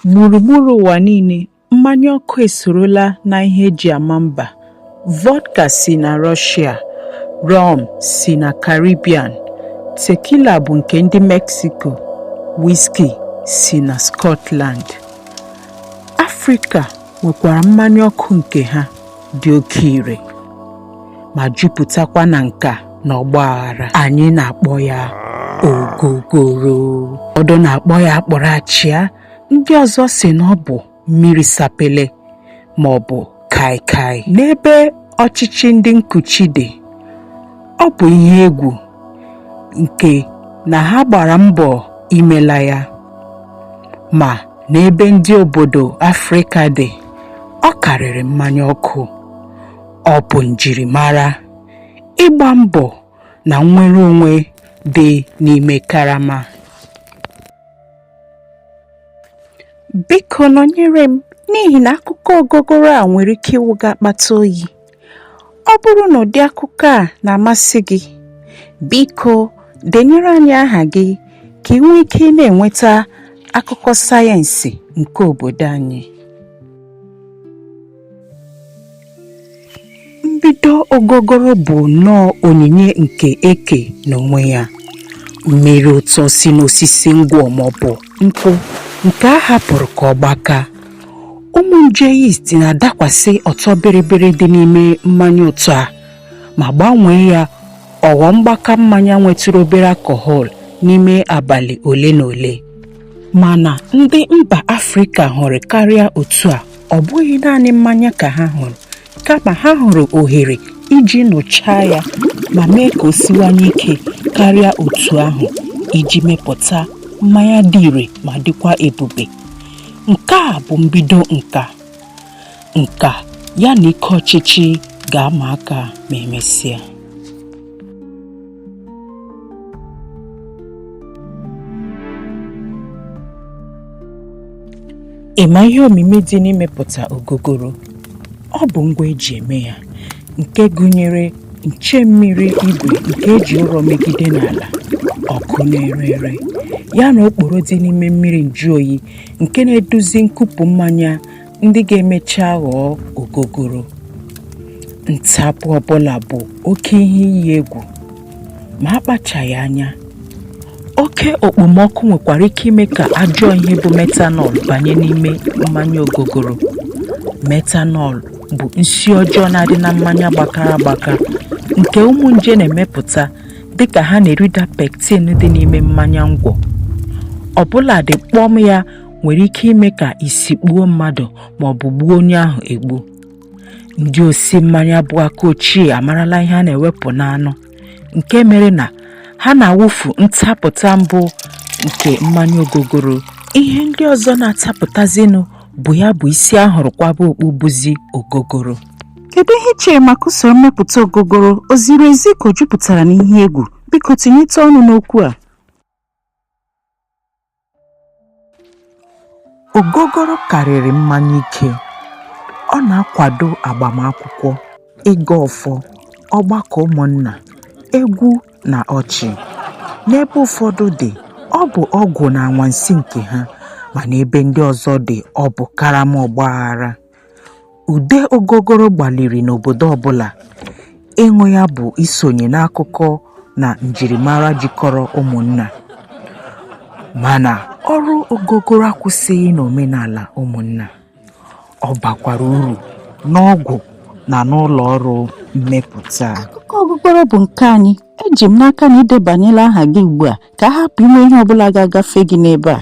Gburugburu ụwa niile, mmanya ọkụ esorola na ihe eji ama mba. Vodka si na Rọshịa, rọm si na Karibian, tekila bụ nke ndị Meksiko, wiski si na Skọtland. Afrịka nwekwara mmanya ọkụ nke ha. dị oke ire ma jupụtakwa na nka na ọgba aghara anyị na-akpọ ya ogogoro ụfọdụ na-akpọ ya akpụrụ achịa ndị ọzọ si na ọ bụ mmiri sapele ma ọ bụ kaikai n'ebe ọchịchị ndị nkuchi dị ọ bụ ihe egwu nke na ha gbara mbọ imela ya ma n'ebe ndị obodo Afrịka dị ọ karịrị mmanya ọkụ ọ bụ njirimara ịgba mbọ na nnwere onwe dị n'ime karama biko nọnyere m n'ihi na akụkọ ogogoro a nwere ike ịwụ gị akpata oyi ọ bụrụ na ụdị akụkọ a na-amasị gị biko denyere anyị aha gị ka i nwee ike na-enweta akụkọ sayensị nke obodo anyị mbido ogogoro bụ nnọọ onyinye nke eke n'onwe ya mmiri ụtọ si n'osisi ngwọ maọbụ nkwụ nke a hapụrụ ka ọ gbaka ụmụ nje yeast na-adakwasị ọtọ bịrịbịrị dị n'ime mmanya ụtọ a ma gbanwee ya ọ ghọọ mgbaka mmanya nwetụrụ obere alcohol n'ime abalị ole na ole. Mana ndị mba Afrịka hụrụ karịa otu a, ọ bụghị naanị mmanya ka ha hụrụ, kama ha hụrụ ohere iji nụchaa ya ma mee ka o siwanye ike karịa otu ahụ iji mepụta mmanya dị ire ma dịkwa ebube nke a bụ mbido nka nka ya na ike ọchịchị ga-ama aka ma emesịa Ị ma ihe omimi dị n'imepụta ogogoro? Ọ bụ ngwa eji eme ya nke gụnyere nche mmiri igwe nke eji ụrọ megide n'ala, ọkụ na-ere ere, ya na okporo dị n'ime mmiri njụoyi nke na-eduzi nkupụ mmanya ndị ga-emecha ghọọ ogogoro ntapụ ọbụla bụ oke ihe iyi egwu ma akpachaghị anya oke okpomọkụ nwekwara ike ime ka ajọ ihe bụ metanọl banye n'ime mmanya ogogoro metanọl bụ nsi ọjọọ na-adị na mmanya gbakara agbaka nke ụmụ nje na-emepụta dịka ha na-erida pektin dị n'ime mmanya ngwọ ọbụladị kpọm ya nwere ike ime ka isi kpuo mmadụ ma ọ bụ gbuo onye ahụ egbu ndị osi mmanya bụ aka ochie amarala ihe a na-ewepụ n'anụ nke mere na ha na-awụfu ntapụta mbụ nke mmanya ogogoro ihe ndị ọzọ na-atapụtazinụ bụ ya bụ isi a hụrụ kwaba okpu bụzi ogogoro kedu ihe i chere maka usoro mmepụta ogogoro o ziri ezi ka o jupụtara n'ihe egwu biko tinyete ọnụ n'okwu a Ogogoro karịrị mmanya ike. Ọ na-akwado agbamakwụkwọ, ịgọ ọfọ, ọgbakọ ụmụnna, egwu na ọchị. N'ebe ụfọdụ dị, ọ bụ ọgwụ na anwansi nke ha, ma n'ebe ndị ọzọ dị, ọ bụ karama ọgbaghara. Ude ogogoro gbaliri n'obodo ọbụla ịṅụ ya bụ isonye n'akụkọ na njirimara jikọrọ ụmụnna. Mana ọrụ ogogoro akwụsịghị n'omenala ụmụnna. Ọ bakwara uru n'ọgwụ na n'ụlọ ọrụ mmepụta. Akụkọ ogogoro bụ nke anyị. Eji m n'aka na i debanyela aha gị ugbu a ka a hapụ inwe ihe ọbụla ga-agafe gị n'ebe a.